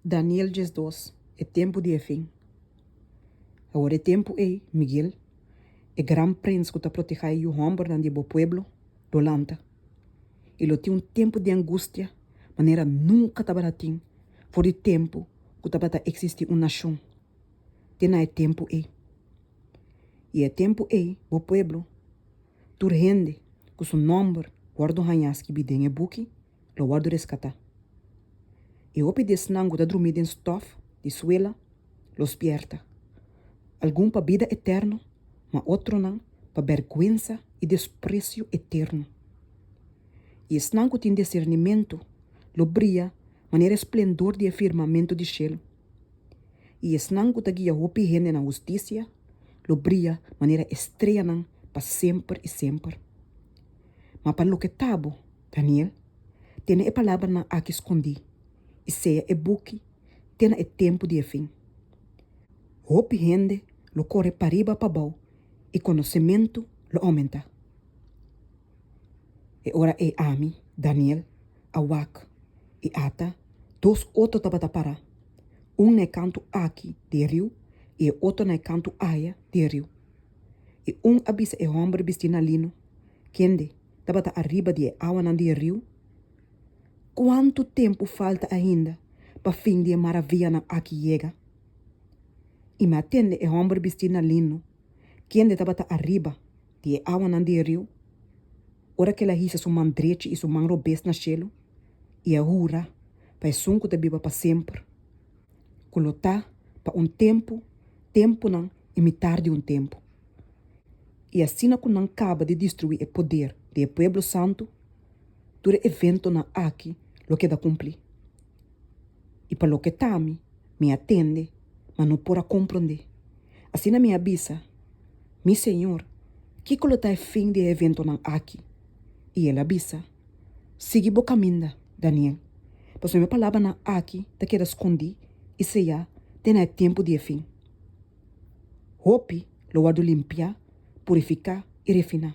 Daniel diesdos E tempu di e fin Awor e tempu ei, Miguel, e gran prins ku ta protehá e yu hòmbernan di e bo pueblo, lo lanta, i lo tin un tempu di angustia manera nunka tabata tin for di tempu ku tabata eksistí un nashon te na e tempu ei. I e tempu ei bo pueblo, tur hende ku su nòmber wòrdu hañá skibí den e buki, lo wòrdu reskatá. E hopi di esnan ku ta drumí den stòf di suela lo spièrta, algun pa bida eterno, ma otronan pa bèrgwensa i despresio eterno. I esnan ku tin disernimentu lo bria manera e splendor di e firmamentu di shelu, i esnan ku ta guia hopi hende na hustisia lo bria manera estreanan pa semper i semper. Ma pa loke ta bo, Daniel, tene e palabranan aki skondí, i sea e buki te na e tempu di e fin. Hopi hende lo kore pariba pabou i konosementu lo oumentá. E ora ei ami, Daniel, a wak, i ata, dos otro tabata pará, un na e kantu aki di e riu i e otro na e kantu aya di e riu. I un a bisa e hòmber bistí na lino, Kende? tabata ariba di e awanan di e riu? Kuantu tempu falta ainda pa fin di e maravianan aki yega? I mi a tende e hòmber bistí na lino, kende tabata ariba di e awanan di e riu, ora ku el a hisa su man drechi i su man robes na shelu, i a hura pa Esun ku ta biba pa semper, ku lo ta pa un tempu, tempunan i mitar di un tempu. i asina ku nan kaba di destruí e poder di e pueblo santu, tur e eventonan aki lo keda kumplí. I pa loke ta mi, mi a tende, ma no por a komprondé. Asina mi a bisa, Mi Señor, kiko lo ta e fin di e eventonan aki? I el a bisa, Sigui bo kaminda, Daniel, pasobra mi palabranan aki ta keda skondí i sellá te na e tempu di e fin. Hopi lo wòrdu limpiá, purifiká i refiná,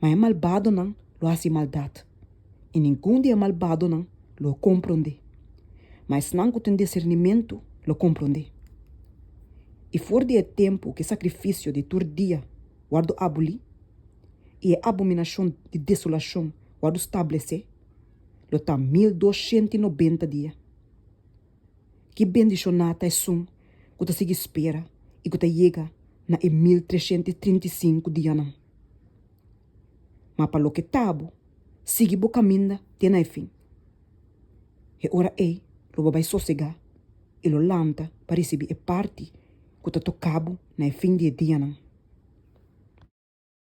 ma e malbadonan lo hasi maldat, i ningun di e malbadonan lo komprondé. Ma esnan ku tin disernimentu lo komprondé. I for di e tempu ku e sakrifisio di tur dia wòrdu abulí i e abominashon di desolashon wòrdu stablesé, lo ta mil dos shent i nobenta dia. Ki bendishoná ta esun ku ta sigui spera i ku ta yega na e mil treshent i trinta i sinku dianan! Ma pa loke ta bo, sigui bo kaminda te na e fin. E ora ei lo bo bai sosegá i lo lanta pa risibí e parti ku ta toká bo na e fin di e dianan.